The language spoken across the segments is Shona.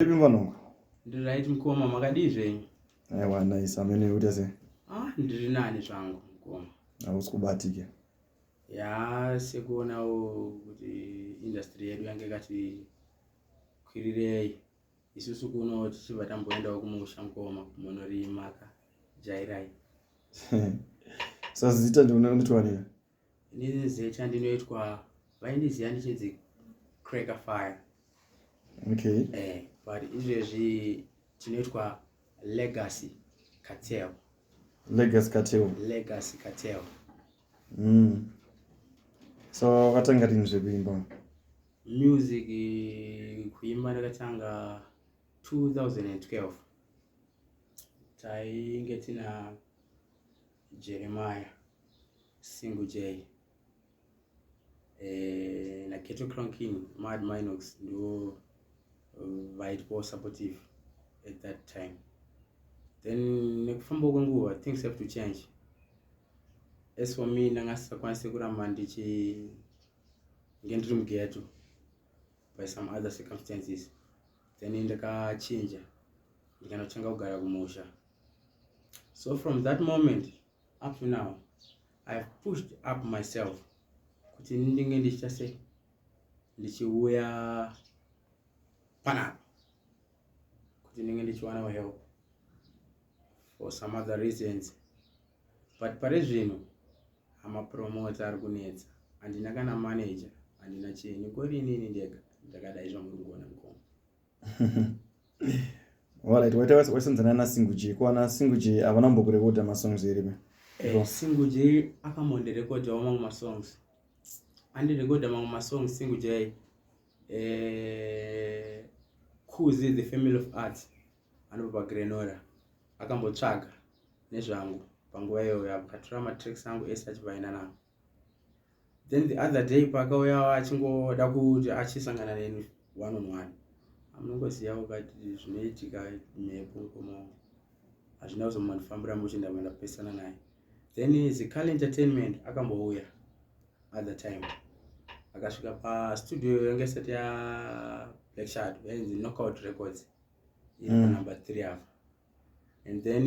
Ndiripi mfanongu? Ndiri right mkoma, makadii zvenyu? Aiwa nice, amene uita sei? Ah, ndiri nani zvangu mkoma. Hausi kubatike. Ya, sekuonawo kuti industry yedu yange kati kwirirei. Isusu kuno tichibva tamboendawo kumusha mkoma kumonorima ka jairai. Sazita ndiona kuti wanira. ndine zita ndinoitwa vaindiziva ndichinzi cracker fire okay eh but izvezvi tinoitwa legacy cartel legacy cartel legacy cartel mm. so vatanga rini zvekuimba music kuimba ndakatanga 2012 tainge tina jeremiah Single J eh, na Keto Crown King Mad Minox ndo eh, vaitwawo supportive at that time then nekufamba kwenguva things have to change as for me ndanga sisakwanise kuramba ndichi nge ndiri mugeto by some other circumstances then ndakachinja ndikanotanga kugara kumusha so from that moment up to now i have pushed up myself kuti ndinge ndichiita sei ndichiuya panapa kuti ndinge ndichiwanawo help for some other reasons but pari zvino amapromota ari kunetsa handina kana manager handina chinhu kori inini ndega ndakadai zvamuri kuona mukoma Alright, waita waisonzana na Single J. Kwa na Single J avana mbokurekoda ma songs here me? Eh, Single J akamonde record wa mamwe ma songs. Andi record mamwe ma songs Single J. Eh, Kuzi the Family of Arts anobva Grenora. Akambotsvaga nezvangu panguva iyoyo akatora ma tracks angu ese achivaina nangu. then the other day pakauya achingoda kuti achisangana neni one on one amunongoziva ukati zvinoitika mhepo mukoma wangu hazvina kuzomandifambira muchinda mandapesana naye then zical entertainment akambouya other time akasvika pastudio yange isati ya black shard yainzi knockout records iri mm. panumber mm. three apa and then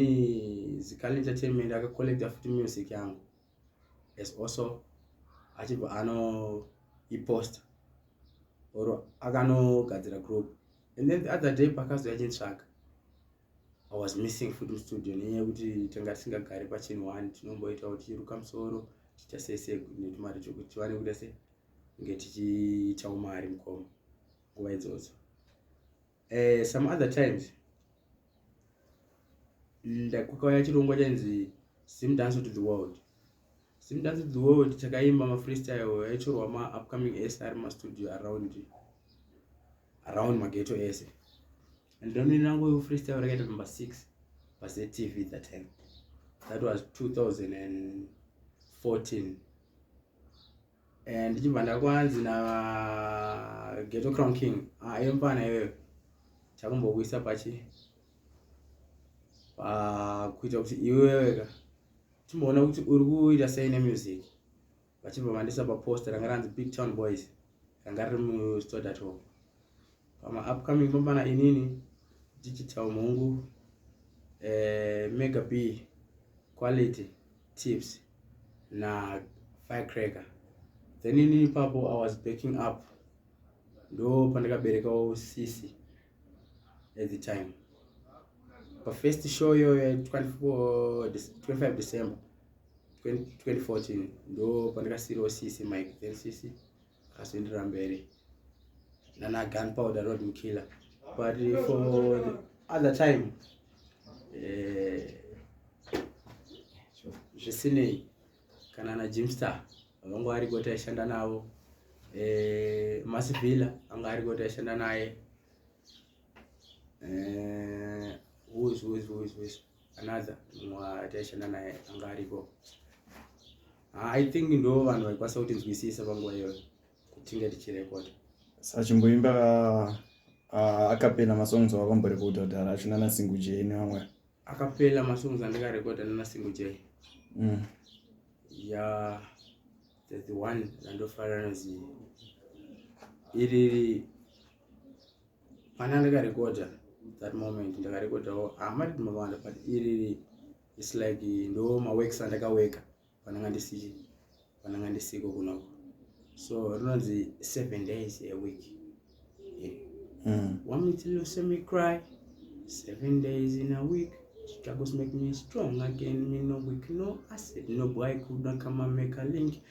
zical entertainment akacollecta futi music yangu as also achibva ano ipost or akanogadzira group and then the other day pakazouya chintsvaga i was missing futi mustudio nenyaya yekuti tanga tisingagari pachinhu one tinomboita kuti chiruka musoro tiita sei sei netumari chokuti tivane kuita sei kunge tichiitawo mari mukoma nguva idzodzo eh, some other times ndakukauya chirongwa chainzi sim dance to the world sim dance to the world chakaimba mafreestyle yaitorwa maupcoming ese ari mastudio around around mageto ese and donini rangu freestyle rakaita number six pazetv that time that was 2014 Eh, ndichibva ndakwanzi na geto crown king ah, iyo mpana iyoyo chakumbokuisa pachi kuita kuti iweweka chimboona kuti uri kuita sei nemusic vachibva vandisa paposta ranga ranzi big town boys ranga riri mustodatoa pama upcoming pambana inini digital mhungu eh, mega b quality tips na firecracker then ini ipapo i was backing up ndo pandakaberekawo sisi at the time pa first show yoyo ya 25 december 2014 ndo pandakasiriwo sisi mike then sisi akasindira mberi nana gun powder road mkiller but for the other time eh, zvisinei kana na jimster vanga vari kuti aishanda navo eh, masivhila anga ari kuti aishanda naye eh, whois whois whois whois another mwa taishanda naye anga ariko ah, i think ndo vanhu vaikwanisa kuti nzwisisa panguva iyoyo kutinge tichirekoda sachimboimba ah, ah, akapena masongs awakamborekoda kudhara acho nana single j nevamwe akapela masongs andikarekoda nana single j mm. ya the one randofarira nozi iri Mana ndakarekodha that moment ndakarekodhawo hama riri mavanda but iriri its like ndo maworks andakaweka pananga ndisi pananga ndisiko kunoko so rinonzi seven days a week yeah. mm. want me to lose me cry seven days in a week struggles make me strong again me no weak no acid no boy could not come and make a link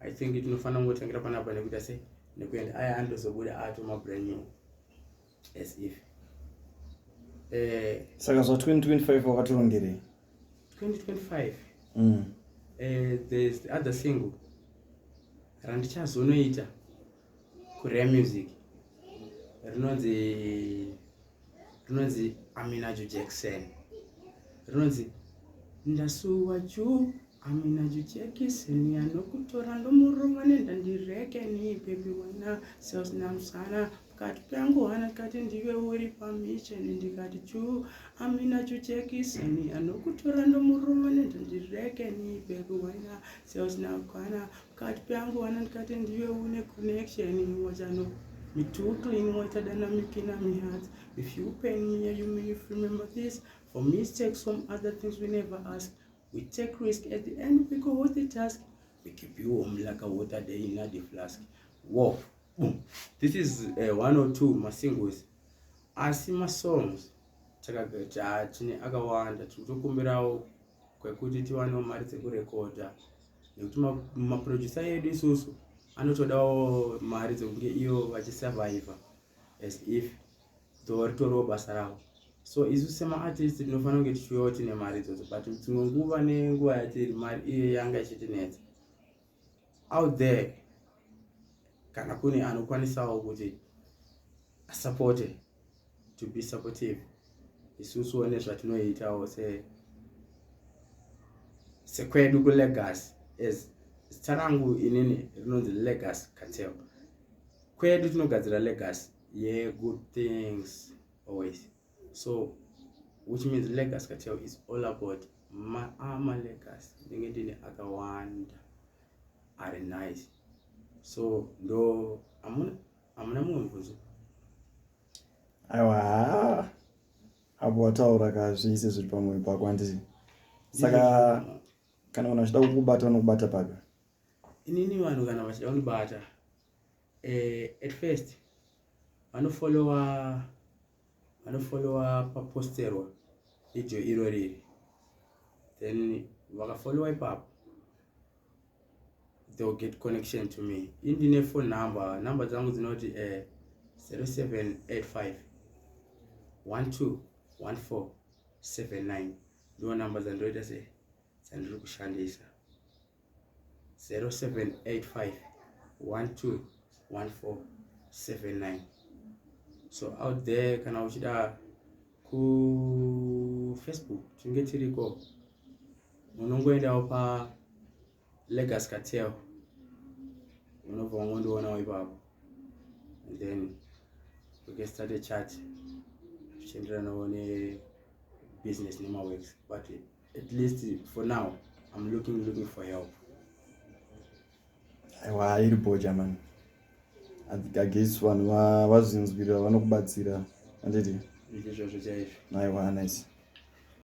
i think tinofanira kungotangira panapa nekuita sei nekuenda aya andozobuda ato mabrand new as if eh, saka zva 2025 wakatorongerei 2025 mm. eh, there's the other single randichazonoita Korea music rinonzi rinonzi Aminajo Jackson rinonzi ndasuwa juu aminajo jekiseni anokutora ndomurova nendandirekeni bebi wena sasina musana kati pangu hana kati ndive uri pamisheni ndikati chuu aminajo jekiseni anokutora ndomurova nendandirekeni bebi wena sasina kwana kati peangowana ndikati ndiwe une connection wachano mitutu inoita danamikina mihat if you pain me you mean if remember this for mistakes from other things we never ask we take risk at the end we go with the task we keep you home like a water day in the flask wo boom this is uh, one or two masingles asi masongs takagata tine akawanda tiri kutokumbirawo kwekuti tiwanewo mari dzekurekodha nekuti maproducer ma edu isusu anotodawo mari dzekunge iyo vachisurviva as if dzoritoriwo basa ravo so isu semaartist tinofanira kunge tichiuyawo tine mari idzodzo but dzimwe nguva nenguva yatiri mari iye yanga ichitinetsa out there kana kune anokwanisawo kuti asapote to be supportive isusuwo nezvatinoitawo se sekwedu kulegacy as zita rangu inini rinonzi legacy catel kwedu tinogadzira legacy yegood things always so which means legacy kateo is all about maama legacy ndenge ndine akawanda ari nice so ndo amuna amuna mumwe mubvunzo aiwa apo wataura ka zvese zviri pamwoyo pako handiti saka kana vanhu vachida kukubata vanokubata papi inini vanhu kana vachida kundibata eh, at first vanofollowa vanofollowa paposterwa video iro riri then vakafollowa ipapo they will get connection to me indine phone number number dzangu dzinoti eh, 0785 12 14 79 ndiwo number dzandoita se dzandiri kushandisa 0785 121479 so out there kana uchida kufacebook tinge tiriko unongoendawo pa legas katel unobva wangondionawo ipapo and then we can start a chat zvichienderanawo nebusiness nemaworks batini at least for now i'm looking looking for help aiwa iri boja mani agesi vanhu vazvinzwirira vanokubatsira anditi izvozvo chaizvo aiwa nice